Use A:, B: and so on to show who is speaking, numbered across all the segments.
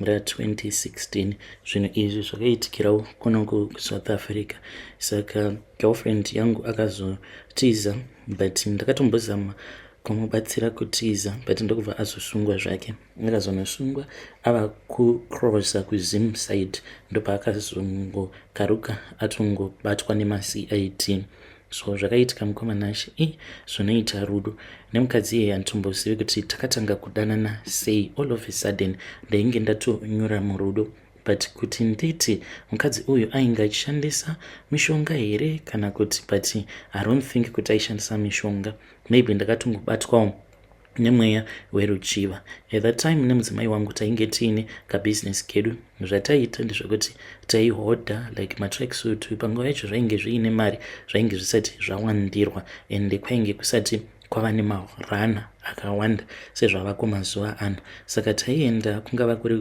A: mura 2016 zvinhu izvi zvakaitikirawo kunoko kusouth africa saka girlfriend yangu akazotiza but ndakatombozama kumubatsira kutiza but ndokubva azosungwa zvake akazonosungwa ava kucrossa kuzim side ndopaakazongokaruka atongobatwa nemacid so zvakaitika mukoma nashe i eh, zvinoita rudo nemukadzi iye handitombozivi kuti takatanga kudanana sei all of a sudden ndainge ndatonyura murudo but kuti nditi mukadzi uyu ainge achishandisa mishonga here kana kuti but i don't think kuti aishandisa mishonga maybe ndakatongobatwawo nemweya weruchiva at that time nemudzimai wangu tainge tiine kabusiness kedu zvataiita ndezvekuti taihodha like matracksuit panguva yacho zvainge zviine mari zvainge zvisati zvawandirwa and kwainge kusati kwava nemarana akawanda sezvavako mazuva ano saka taienda kungava kuri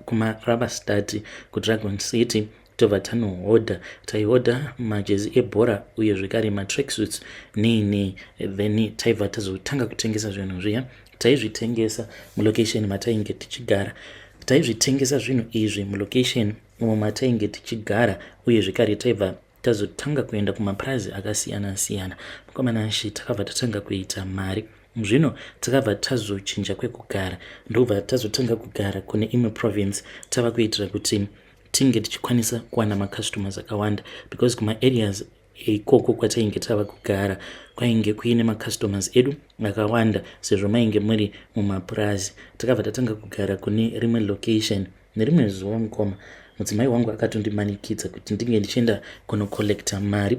A: kumarava stati kudragon city tobva tanohodha taihodha majezi ebhora uye zvekare matracksuits nei nei then taibva tazotanga kutengesa zvinhu zviya taizvitengesa mulocation matainge tichigara taizvitengesa zvinhu izvi mulocation umo matainge tichigara uye zvekare taibva tazotanga kuenda kumapurazi akasiyana siyana mukomana shi takabva tatanga kuita mari zvino takabva tazochinja kwekugara ndobva tazotanga kugara kune imwe province tava kuitira kuti tinge tichikwanisa kuwana macustomers akawanda because kumaareas ikoko kwatainge tava kugara kwainge kuine macustomers edu akawanda sezvo mainge muri mumapurazi takabva tatanga kugara kune rimwe location nerimwe zuva mukoma mudzimai wangu akatondimanikidza kuti ndinge ndichienda kunocollecta mari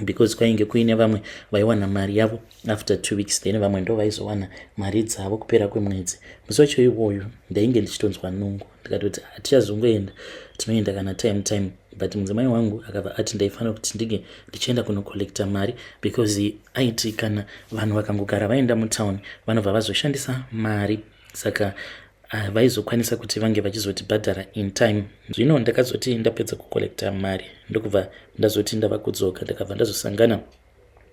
A: because kwainge kuine vamwe vaiwana mari yavo after two weeks then vamwe ndo vaizowana mari dzavo kupera kwemwedzi musi wacho iwoyo ndainge ndichitonzwa nungo ndikatoti hatichazongoenda tinoenda kana time time but mudzimai wangu akabva ati ndaifanira kuti ndinge ndichienda kunocollecta mari because aiti kana vanhu vakangogara vaenda mutown vanobva vazoshandisa mari saka havaizokwanisa uh, kuti vange vachizotibhadhara in time zvino ndakazoti ndapedza kucollecta mari ndokubva ndazoti ndava kudzoka ndakabva ndazosangana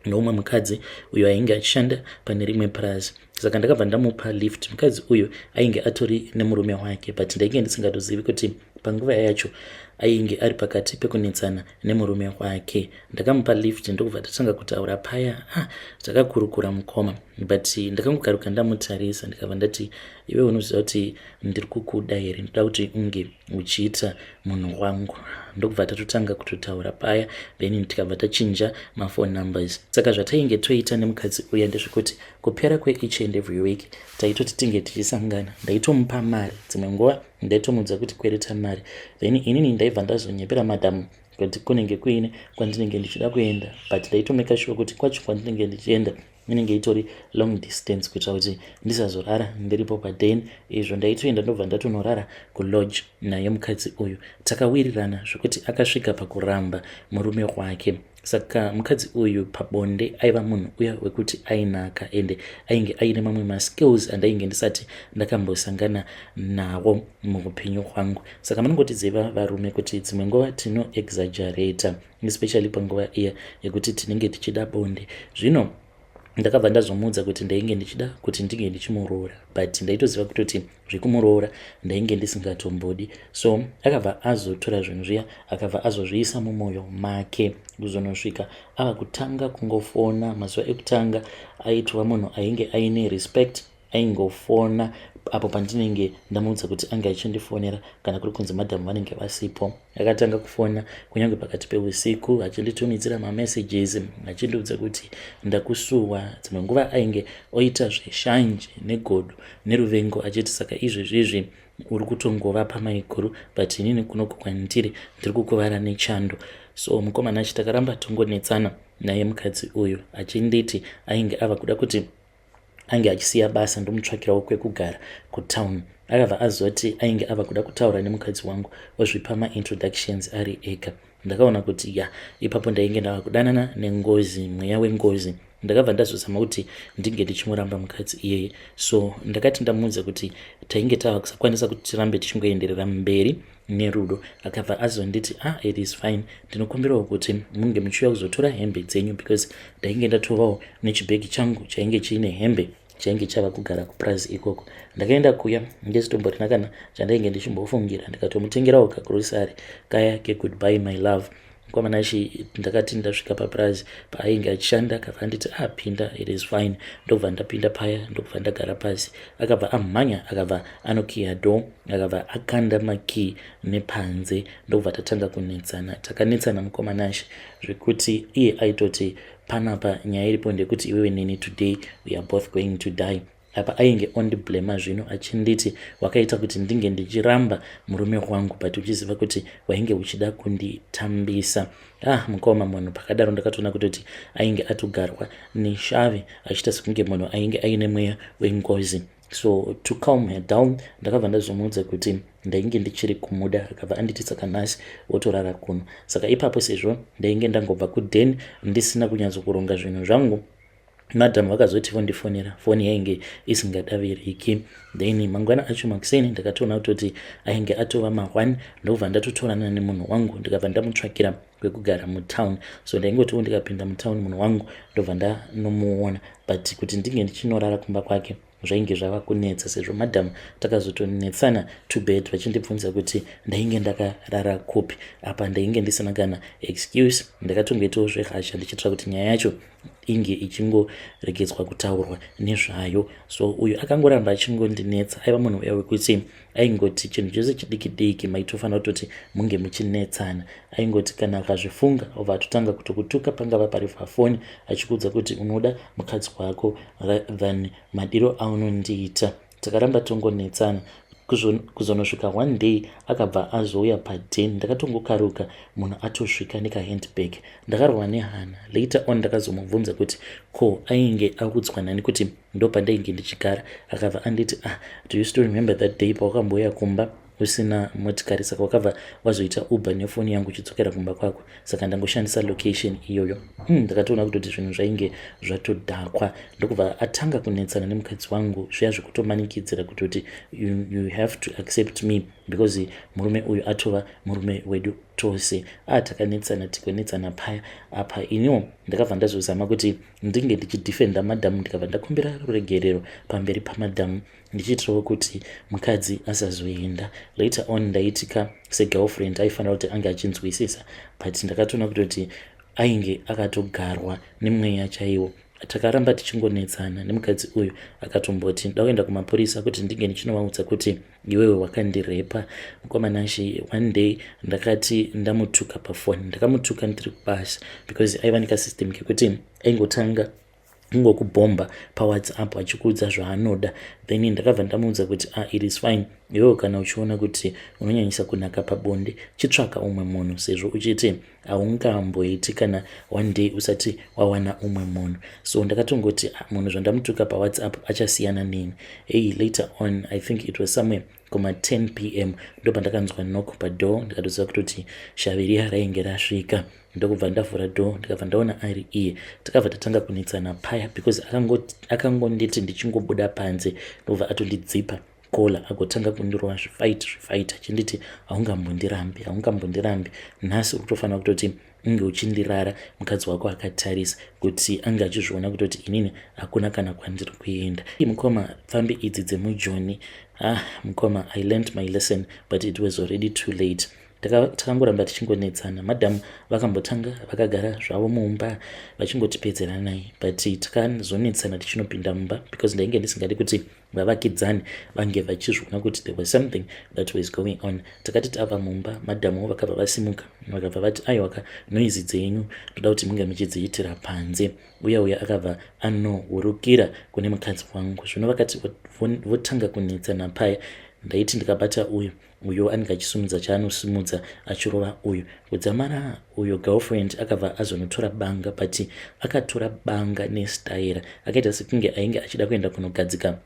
A: noumwe mukadzi uyo ainge achishanda pane rimwe purazi saka ndakabva ndamupa lift mukadzi uyu ainge atori nemurume wake but ndainge ndisingatozivi kuti panguva yacho ainge ari pakati pekunetsana nemurume wake ndakamupa lift ndokubva tatanga kutaura paya ah, takakurukura mukoma but ndakangokaruka ndamutarisa ndikabva ndati iwe unoziva kuti ndiri kukuda here ndoda kuti unge uchiita munhu wangu ndokubva tatotanga kutotaura paya then tikabva tachinja maphone numbers saka zvatainge toita nemukadzi uya ndezvekuti kupera kweeach and every week taitoti tinge tichisangana ndaitomupa mari dzimwe nguva ndaitomuudza kuti kwereta mari then inini ndaibva ndazonyepera madam kuti kunenge kuine kwandinenge ndichida kuenda but ndaitomeka shuwa kuti kwacho kwandinenge ndichienda inenge itori long distance kuitira kuti ndisazorara ndiripo paden izvo ndaitoenda ndobva ndatonorara kulodge naye mukadzi uyu takawirirana zvekuti akasvika pakuramba murume wake saka mukadzi uyu pabonde aiva munhu uya wekuti ainaka ende ainge aine mamwe maskills andainge ndisati ndakambosangana nawo muupenyu hwangu saka munongotiziva varume kuti dzimwe nguva tino exagerata especially panguva iya yekuti tinenge tichida bonde zvino ndakabva ndazomuudza kuti ndainge ndichida kuti ndinge ndichimuroora but ndaitoziva kutoti zvekumuroora ndainge ndisingatombodi so akabva azotora zvinhu zviya akabva azozviisa mumwoyo make kuzonosvika ava kutanga kungofona mazuva ekutanga aitova munhu ainge aine respect aingofona apo pandinenge ndamuudza kuti ange achindifonera kana kuri kunzi madhamu vanenge vasipo Akatanga kufona kunyange pakati peusiku achinditumidzira mamessages achindiudza kuti ndakusuwa. Dzimwe nguva ainge oita zveshanje negodo neruvengo achiti saka izvezvizvi uri kutongova pamaiguru but inini kunoku kwandiri ndiri kukuvara nechando. So mukomana achi takaramba tongonetsana naye mukadzi uyu achinditi ainge ava kuda kuti ange achisiya basa ndomutsvakirawo kwekugara kutown akabva azoti ainge ava kuda kutaura nemukadzi wangu ozvipa maintroductions ari ega ndakaona kuti ya ipapo ndainge ndava kudanana nengozi mweya wengozi ndakabva ndazozama kuti ndinge ndichimuramba mukadzi iyeye so ndakati ndamuudza kuti tainge tava kusakwanisa kuti tirambe tichingoenderera mberi Nerudo akabva azonditi ah it is fine ndinokumbirawo kuti munge muchiuya kuzotora hembe dzenyu because ndainge ndatovawo nechibhegi changu chainge chiine hembe chainge chava kugara kupurazi ikoko ndakaenda kuya ndesitomborina kana chandainge ndichimbofungira ndikatomutengerawo kagrosary kaya kegoodby my love mukoma nashe ndakati ndasvika papurazi paainge achishanda akabva anditi apinda ah, it is fine ndokubva ndapinda paya ndokubva ndagara pasi akabva amhanya akabva anokiya do akabva akanda makii nepanze ndokubva tatanga kunetsana takanetsana mukoma nashe zvekuti iye aitoti panapa nyaya iripo ndekuti iwewe neni today weare both going to die apa ainge ondiblema zvino achinditi wakaita kuti ndinge ndichiramba murume wangu but uchiziva kuti wainge uchida kunditambisa ah mukoma munhu pakadaro ndakatoona kutoti ainge atogarwa neshavi achiita sekunge munhu ainge aine mweya wengozi so to calm her down ndakabva ndazomuudza kuti ndainge ndichiri kumuda akabva anditi saka nhasi wotorara kuno saka ipapo sezvo ndainge ndangobva kuden ndisina kunyatsokuronga zvinhu zvangu madam vakazoti vondifonera foni yainge isingadaviriki then mangwana acho makuseni ndakatoona kutoti ainge atova ma1 ndokubva ndatotorana nemunhu wangu ndikabva ndamutsvakira kwekugara mutown so ndaingotiwo ndikapinda mutown munhu wangu ndobva ndanomuona but kuti ndinge ndichinorara kumba kwake zvainge zvava kunetsa sezvo madam takazotonetsana to bed vachindibvunza kuti ndainge ndakarara kupi apa ndainge ndisina kana excuse ndakatongoitawo zvehasha ndichitira kuti nyaya yacho inge ichingoregedzwa kutaurwa nezvayo so uyu akangoramba achingondinetsa aiva munhu uya wekuti aingoti chinhu chose chidiki diki maitofanira kutoti munge muchinetsana aingoti kana akazvifunga obva atotanga kutokutuka pangava pari pafoni achikuudza kuti unoda mukadzi wako than madiro aunondiita takaramba tongonetsana kuzonosvika one day akabva azouya paden ndakatongokaruka munhu atosvika nekahandbag ndakarwa nehana later on ndakazomubvunza kuti ko ainge audzwa nani kuti ndopandainge ndichigara akabva anditi ah do you still remember that day pawakambouya kumba usina motikari saka wakabva wazoita uber nefoni yangu uchidzokera kumba kwako saka ndangoshandisa location iyoyo hmm, ndakatoona mm, kutoti zvinhu zvainge zvatodhakwa ndokubva atanga kunetsana nemukadzi wangu zviya zvekutomanikidzira kutoti you, you have to accept me because murume uyu atova murume wedu tose a ah, takanetsana tikonetsana paya apa iniwo ndakabva ndazozama kuti ndinge ndichidefenda madam ndikabva ndakumbira ruregerero pamberi pamadam ndichiitirawo kuti mukadzi asazoenda later on ndaitika segirlfriend aifanira kuti ange achinzwisisa but ndakatoona kutoti ainge akatogarwa nemweya chaiwo takaramba tichingonetsana nemukadzi uyu akatomboti ndakuenda kumapurisa kuti ndinge ndichinovaudza kuti iwewe wakandirepa mukoma nashe one day ndakati ndamutuka pafoni ndakamutuka ndiri kubasa because aiva nekasystem kekuti aingotanga ingokubhomba pawhatsapp achikuudza zvaanoda then ndakabva ndamuudza kuti ah, it is fine iwewo kana uchiona kuti unonyanyisa kunaka pabonde chitsvaka umwe munhu sezvo uchiti haungamboiti kana one day usati wawana umwe munhu so ndakatongoti ah, munhu zvandamutuka pawhatsapp achasiyana neni hey later on i think it was somewhere kuma 10 p m ndo pandakanzwa nok padoor ndikatoziva kutoti shaviriya rainge rasvika ndokubva ndavhura door ndikabva ndaona ari iye tikabva tatanga kunetsana paya because akangonditi ndichingobuda panze ndokubva atondidzipa Kola agotanga kundirova zvifaiti zvifaiti achinditi haungambondirambi haungambondirambi nhasi ukutofanira kutoti unge uchindirara mukadzi wako akatarisa kuti ange achizviona kutoti inini hakuna kana kwandiri kuenda mukoma pfambi idzi dzemujoni ah mukoma i learnt my lesson but it was already too late takangoramba taka tichingonetsana madhamu vakambotanga vakagara zvavo mumba vachingotipedzeranai but takazonetsana tichinopinda mumba because ndainge ndisingadi kuti vavakidzani vange vachizviona kuti there was something that was going on takati tava mumba madhamuwo vakabva vasimuka vakabva vati aiwaka noizi dzenyu ndoda kuti munge muchidziitira panze uya uya akabva anohurukira kune mukadzi wangu zvino vakati votanga kunetsana paya ndaiti ndikabata uyu uyo anenge achisumudza chaanosimudza achirova uyo kudzamara uyo girlfriend akabva azonotora banga but akatora banga nestaira akaita sekunge ainge achida kuenda kunogadzika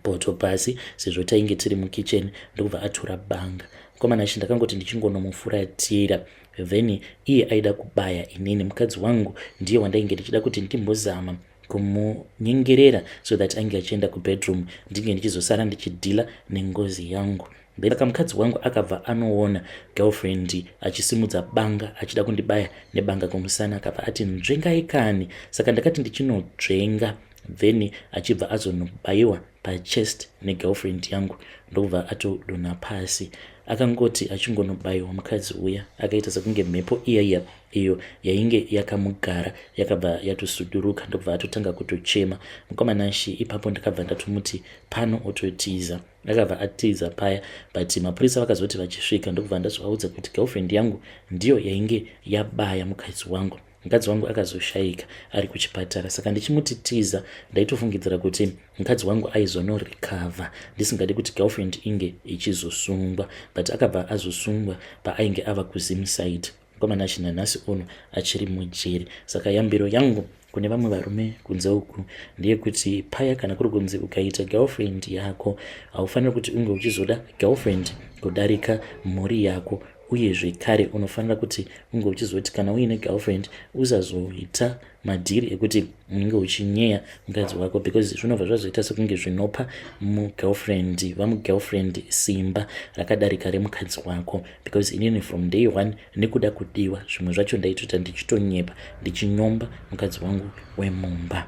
A: poto pasi sezvo tainge tiri mukitchen ndokubva atora banga mukomana achi ndakangoti ndichingonomufuratira then iye aida kubaya inini mukadzi wangu ndiye wandainge ndichida kuti ndimbozama kumunyengerera so that ange achienda kubedroom ndinge ndichizosara ndichidhila nengozi yangu ndaka mukadzi wangu akabva anoona girlfriend achisimudza banga achida kundibaya nebanga kumusana akabva ati nzvengai kani saka ndakati ndichinodzvenga then achibva azonobaiwa pachest negirlfriend yangu ndokubva atodonha pasi. Akangoti achingonobaiwa mukadzi uya akaita sekunge mhepo iya iya iyo yainge yakamugara yakabva yatosuduruka ndokubva atotanga kutochema. Mukoma Nashi ipapo ndakabva ndatomuti pano ototiza. Akabva atiza paya but mapurisa vakazoti vachisvika ndokubva ndazovaudza kuti girlfriend yangu ndiyo yainge yabaya mukadzi wangu. mukadzi wangu akazoshaika ari kuchipatara saka ndichimuti tiza ndaitofungidzira kuti mukadzi wangu aizonorecover ndisingadi kuti girlfriend inge ichizosungwa but akabva azosungwa paainge ava kuzimside mukomana china nhasi uno achiri mujeri saka yambiro yangu kune vamwe varume kunze uku ndeyekuti paya kana kuri kunzi ukaita girlfriend yako haufaniri kuti unge uchizoda girlfriend kudarika mhuri yako uye zvekare unofanira kuti unge uchizoti kana uine girlfriend usazoita madhiri ekuti unenge uchinyeya mukadzi wako because zvinobva zvazoita sekunge zvinopa mugirlfriend vamugirlfriend simba rakadarika remukadzi wako because inini from day one nekuda kudiwa zvimwe zvacho ndaitota ndichitonyepa ndichinyomba mukadzi wangu wemumba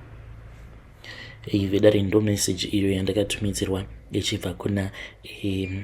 A: ivedare ndo message iyo yandakatumidzirwa ichibva kuna um,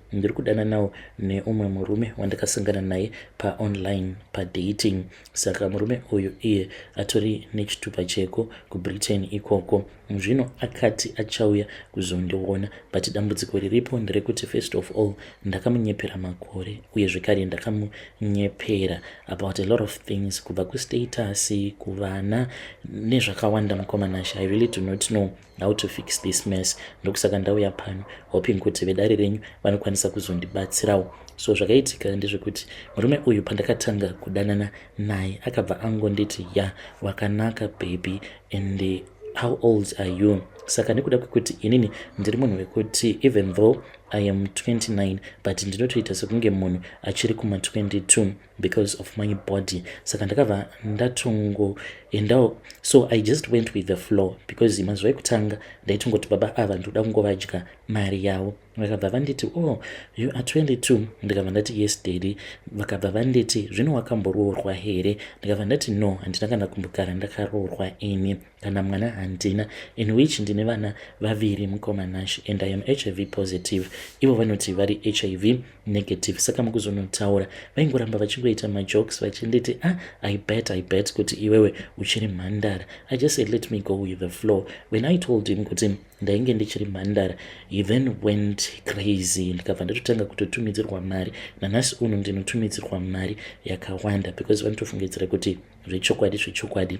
A: ndiri kudananawo neumwe murume wandakasangana naye paonline padating saka murume uyu iye atori nechitupa cheko kubritain ikoko zvino akati achauya kuzondiona but dambudziko riripo nderekuti first of all ndakamunyepera makore uye zvekare ndakamunyepera about a lot of things kubva kustatasi kuvana nezvakawanda mukomana sha i really do not know how to fix this mess ndokusaka ndauya pano hoping kuti vedare renyu vanokwanisa kuzondibatsirawo so zvakaitika ndezvekuti murume uyu pandakatanga kudanana naye akabva angonditi ya wakanaka baby and eh, how old are you saka nekuda kwekuti inini ndiri munhu wekuti even though i am 29 but ndinotoita sekunge munhu achiri kuma 22 because of my body saka ndakabva ndatongoendawo so i just went with the floor because mazuva ekutanga ndaitongoti baba ava ndikuda kungovadya mari yavo vakabva vanditi oh you are 22 ndikabva ndati yes dady vakabva vanditi zvino wakamboroorwa here ndikabva ndati no handina kana kumbogara ndakaroorwa ini kana mwana handina in which ndine vana vaviri mukoma nash and i am hiv positive ivo vanoti vari hiv negative saka mukuzonotaura vaingoramba vachingoita majokes vachinditi ah i bet i bet kuti iwewe uchiri mhandara i just said let me go with the flow when i told him kuti ndainge ndichiri mhandara he then went crazy ndikabva ndatotanga kutotumidzirwa mari nanhasi uno ndinotumidzirwa mari yakawanda because vanotofungidzira kuti zvechokwadi zvechokwadi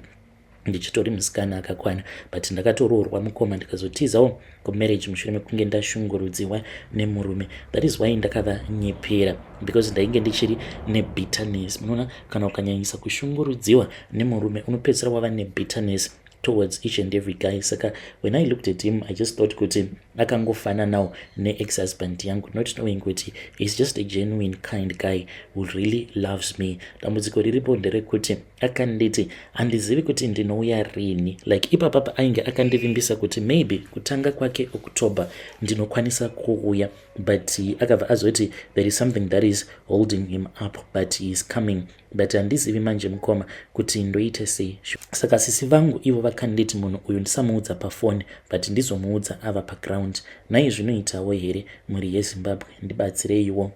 A: ndichitori musikana akakwana but ndakatoroorwa mukoma ndikazotizawo kumarriage mushure mekunge ndashungurudziwa nemurume that is why ndakavanyepera because ndainge ndichiri nebitterness munoona kana ukanyanyisa kushungurudziwa nemurume unopedzisira wava nebitterness towards each and every guy saka when i looked at him i just thought kuti akangofananawo neex husband yangu not knowing kuti he's just a genuine kind guy who really loves me dambudziko riripo nderekuti akanditi handizivi kuti ndinouya rini like ipapapa ainge akandivimbisa kuti maybe kutanga kwake october ndinokwanisa kuuya but akabva azoti there is something that is holding him up but he is coming but handizivi manje mukoma kuti ndoite sei saka sisi vangu ivo vakanditi munhu uyu ndisamuudza pafoni but ndizomuudza ava paground nai zvinoitawo here mhuri yezimbabwe ndibatsireiwo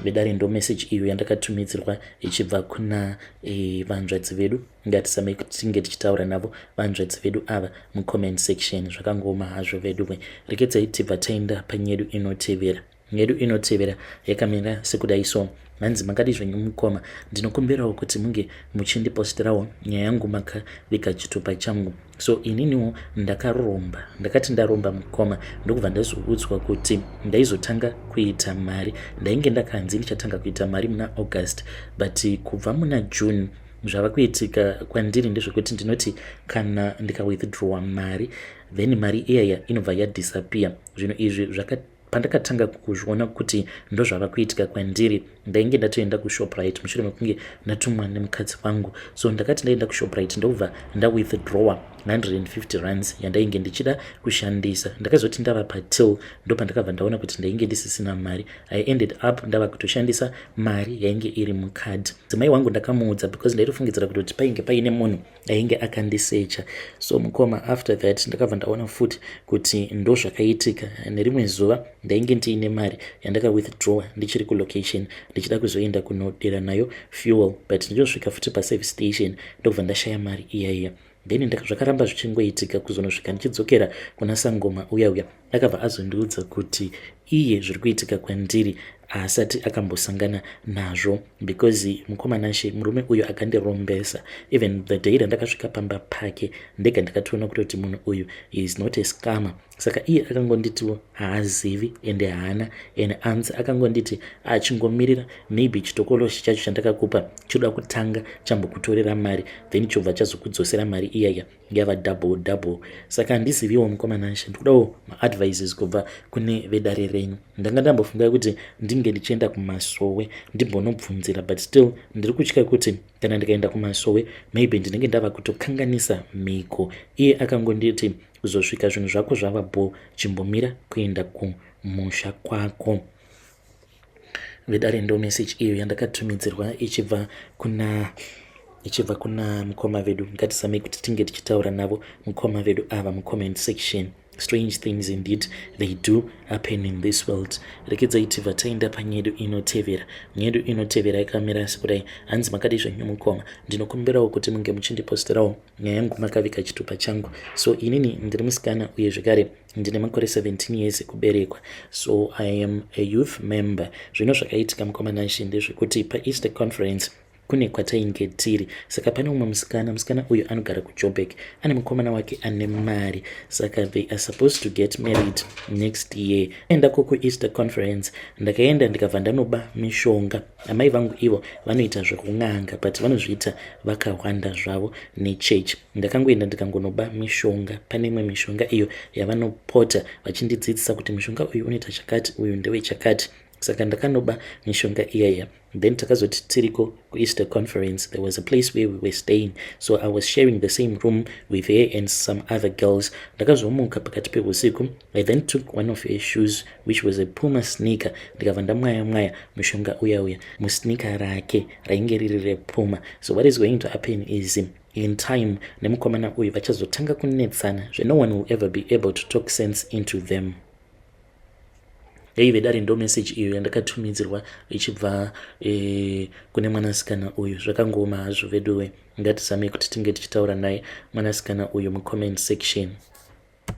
A: vedare ndo meseji iyo yandakatumidzirwa ichibva kuna e, vanzvadzi vedu ngatisamei kuti tinge tichitaura navo vanzvadzi vedu ava mucomment section zvakangooma hazvo veduwe rekedzai tibva taenda panyedu inotevera yedu inotevera yakamira sekudai so hanzi makadi zvenyu mukoma ndinokumbirawo kuti munge muchindipostirawo nyaya yangu makavika chitupa changu so ininiwo ndakaromba ndakati ndaromba mukoma ndokubva ndazoudzwa kuti ndaizotanga kuita mari ndainge ndakanzi ndichatanga kuita mari muna august but kubva muna june zvava kuitika kwandiri ndezvekuti ndinoti kana ndikawithdrawa mari then mari iyaya inobva yadisappear zvinhu izvi zvakati pandakatanga kuzviona kuti ndozvava kuitika kwandiri ndainge ndatoenda kushoprite mushure mekunge ndatumwa nemukadzi wangu so ndakati ndaenda kushoprite ndokubva ndawithdrawer 150 runs yandainge ndichida kushandisa ndakazoti ndava patil ndo pandakabva ndaona kuti ndainge ndisisina mari i ended up ndava kutoshandisa mari yainge iri mukadhi dzimai wangu ndakamuudza because ndaitofungidzira kutoti painge paine munhu ainge akandisecha so mukoma after that ndakabva ndaona futi kuti ndozvakaitika nerimwe zuva ndainge ndiine mari yandaka withdrawa ndichiri kulocation ndichida kuzoenda kunodira nayo fuel but ndichosvika futi paservice station ndokubva ndashaya mari iyaiya then zvakaramba zvichingoitika kuzonosvika ndichidzokera kuna sangoma uya uya akabva azondiudza kuti iye zviri kuitika kwandiri haasati akambosangana nazvo because mukoma nashe murume uyu akandirombesa even the day randakasvika pamba pake ndega ndakatoona kutoti munhu uyu is not a scammer saka iye akangonditiwo haazivi ende haana and anzi akangonditi achingomirira maybe chitokoloshi chacho chandakakupa choda kutanga chambokutorera mari then chobva chazokudzosera mari iyaya yava double double saka handiziviwo mukoma nansha ndikudawo maadvices kubva kune vedare renyu ndanga ndambofunga kuti ndinge ndichienda kumasowe ndimbonobvunzira but still ndiri kutya kuti kana ndikaenda kumasowe maybe ndinenge ndava kutokanganisa mhiko iye akangonditi kuzosvika zvinhu zvako zvava bho chimbomira kuenda kumusha kwako vedare ndo message iyo yandakatumidzirwa ichibva kuna ichibva kuna mukoma vedu ngatisamei kuti tinge tichitaura navo mukoma vedu ava mucomment section strange things indeed they do happen in this world rekedzai tibva taenda panyedu inotevera nyedu inotevera yakamira asi kudai hanzi makadii zvenyu mukoma ndinokumbirawo kuti munge muchindipostirawo nyaya yangu makaviga chitupa changu so inini ndiri musikana uye zvekare ndine makore 17 years ekuberekwa so i am a youth member zvino zvakaitika mukomanashe ndezvekuti paeaster conference kune kwatainge tiri saka pane umwe musikana musikana uyu anogara kujobek ane mukomana wake ane mari saka they are supposed to get married next year enda ko kueaster conference ndakaenda ndikabva ndanoba mishonga amai vangu ivo vanoita zvekun'anga but vanozviita vakahwanda zvavo nechurch ndakangoenda ndikangonoba mishonga pane imwe mishonga iyo yavanopota vachindidzidzisa kuti mushonga uyu unoita chakati uyu ndewe chakati saka ndakanoba mishonga iyaya then takazoti tiriko kueaster conference there was a place where we were staying so i was sharing the same room with her and some other girls ndakazomuka pakati peusiku i then took one of her shoes which was a puma sneaker ndikabva ndamwaya mwaya mushonga uya uya musneaker rake rainge riri repuma so what is going to happen is in time nemukomana uyu vachazotanga kunetsana zve no one will ever be able to talk sense into them yaive dare ndo message iyo yandakatumidzirwa ichibva e, kune mwanasikana uyu zvakangooma hazvo veduwe ngatizame kuti tinge tichitaura naye mwanasikana uyu mucomment section